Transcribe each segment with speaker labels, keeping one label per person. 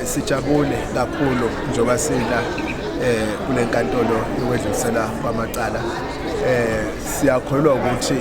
Speaker 1: Sijabule kakhulu njengoba sila eh kule nkantolo yokwedlulisela kwamacala eh siyakholwa ukuthi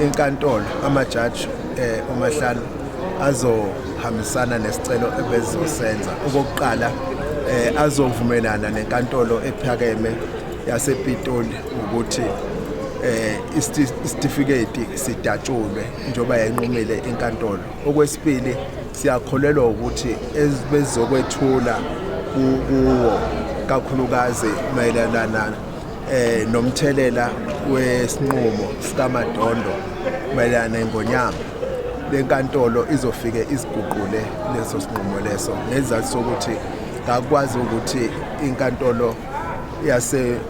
Speaker 1: inkantolo amajaji eh umahlalo azohambisana nesicelo ebezizosenza okokuqala eh azovumelana nenkantolo ephakeme yasePitoli ukuthi eh isitifiketi sidatshulwe njoba yanqumile inkantolo Okwesibili siyakholelwa ukuthi bezokwethula kuwo kakhulukazi mayelana eh nomthelela wesinqumo sikaMadondo mayelana neNgonyama lenkantolo izofike iziguqule leso sinqumo leso ngezathu sokuthi kakwazi ukuthi inkantolo yase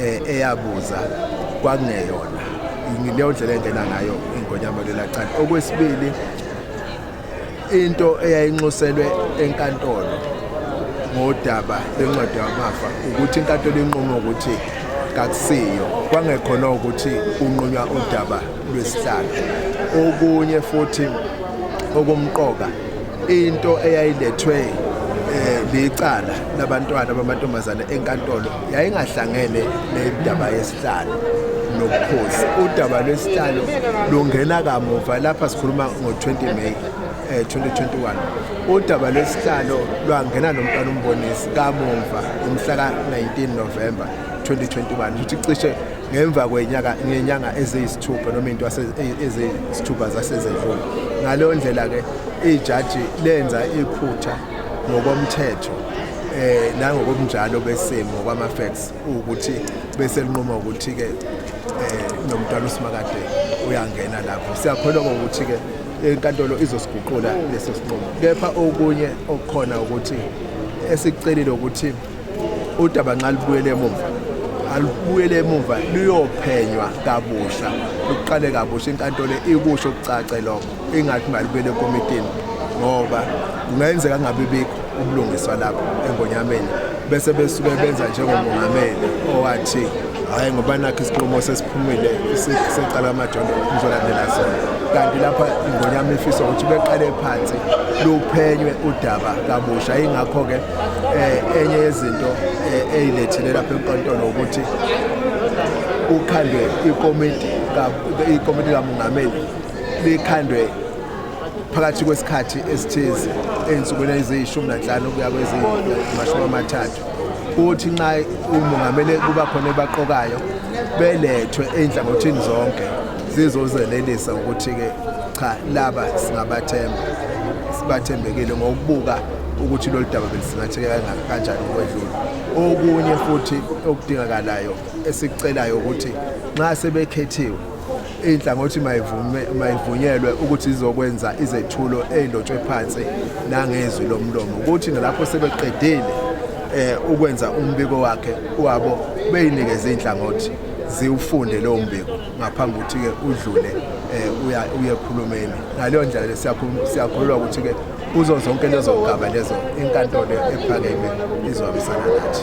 Speaker 1: eh eyabuza kwakungeyona ngileyo ndlela engena ngayo ingonyama lelacala okwesibili into eyayinxuselwe enkantolo ngodaba lencwadi yamafa ukuthi inkantolo inqume ukuthi kakusiyo kwangekhona ukuthi unqunywa udaba lwesihlalo okunye futhi okumqoka into eyayilethwe eh, licala labantwana bamantombazane enkantolo yayingahlangene nendaba yesihlalo nobukhosi udaba lwesihlalo lungena kamuva lapha sikhuluma ngo-20 may um eh, 2021 udaba lwesihlalo lwangena nomntwana umbonisi kamumva umhla ka-19 novemba 2021 futhi cishe ngemva kwenyaka ngenyanga eziyisithupha noma into e-, eziyisithupha zasezedlula ngaleyo ndlela-ke ijaji lenza iphutha ngokomthetho eh nangokomnjalo besimo ngokwama facts ukuthi bese linqoma ukuthi ke eh nomntwana usimakade uyangena lapho siyakholwa ukuthi ke inkantolo izosiguqula leso sinqumo kepha okunye okukhona ukuthi esicelile ukuthi udaba nxa lubuyele emuva alubuyele emuva luyophenywa kabusha luqale kabusha inkantolo ikusho kucace lokho ingathi malibuyele ekomitini ngoba kungenzeka kungabi bikho ubulungiswa lapho engonyameni bese besuke benza njengomongameli owathi hhayi ngoba nakho isinqumo sesiphumile secala amajondo ngizolandela sona kanti lapha ingonyama ifisa ukuthi beqale phansi luphenywe udaba kabusha yingakho-ke eh enye yezinto eh, eyilethile lapha enkantolo ukuthi ukhandwe ikomiti ikomiti kamongameli likhandwe phakathi kwesikhathi esithize ezinsukwini eziyishumi nanhlanu kuya kwezimashumi amathathu kuthi nxa umongameli kuba khona ebaqokayo belethwe ey'nhlangothini zonke zizozelelisa ukuthi-ke Cha laba singabathemba. Sibathembekile ngokubuka ukuthi lolu daba belisingatheke kanjani ukwedlula okunye futhi okudingakalayo esikucelayo ukuthi nxa sebekhethiwe inhlangothi mayivume mayivunyelwe ukuthi izokwenza izethulo ezilotshwe phansi nangezwi lomlomo ukuthi nalapho sebeqedile eh ukwenza umbiko wakhe wabo beyinikeza inhlangothi ziwufunde lowo mbiko ngaphambi ukuthi-ke udlule um uye ekhulumeni ngaleyo ndlela siyakhululwa ukuthi-ke kuzo zonke lezo gaba lezo inkantolo ephakeme izohambisana nathi